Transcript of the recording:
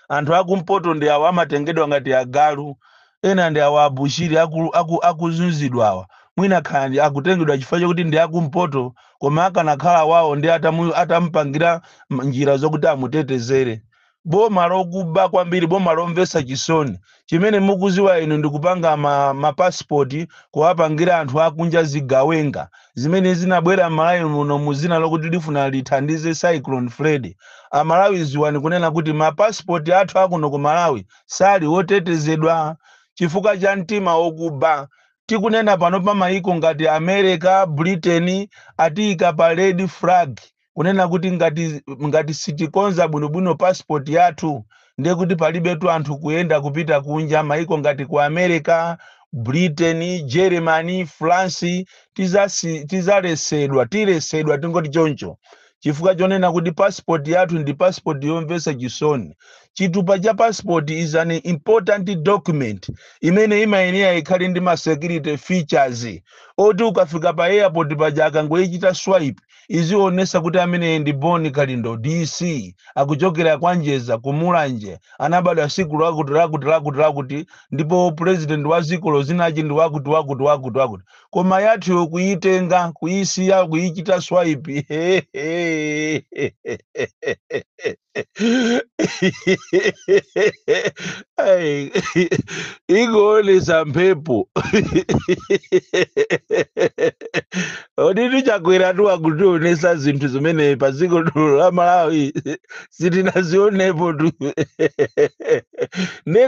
anthu akumpoto ndi awa amatengedwa ngati agalu ena ndi awa abushiri aku- aku- akuzunzidwa awa mwina kaya ndi akutengedwa chifukwa chakuti ndi akumpoto koma akanakhala wawo ndi atamu- atamupangira m- njira zokuti amutetezere boma lokuba kwambiri boma lomvetsa chisoni chimene mukuziwa inu ndikupanga ma passport kuwapangira anthu akunja zigawenga zimene zinabwera mmalawi muno muzina lokuti lifuna lithandize cyclone freddy amalawi ziwani kunena kuti ma passport athu akuno ku malawi sali otetezedwa chifukwa cha mtima okuba tikunena pano pa mayiko ngati america britain atiyika pa red flag kunena kuti ngati sitikonza bwinobwino passport yathu ndiye kuti palibetu anthu kuyenda kupita kunja maiko ngati ku america britain germany france tizasi- tizalesedwa tilesedwa tingoti choncho chifukwa chonena kuti passport yathu ndi passport yomvetsa chisoni chitupa cha passport is an important document imene imayenera ikhale ndi ma security features oti ukafika pa airport paja akangoyichita swipe Izionesa kuti ameneyi ndi Bon kalindo DC akuchokera kwa Njeza ku Mulanje anabadwa siku lakuti lakuti lakuti lakuti ndipo president wa dzikolo dzina lake ndi wakuti wakuti wakuti wakuti koma yathuyo kuyitenga kuyisiya kuyichita swipe Ai, ingoonesa mphepo oditu chakwera tu akutionesa zinthu zimene pa dziko lino la malawi sitinazionepo tu Nde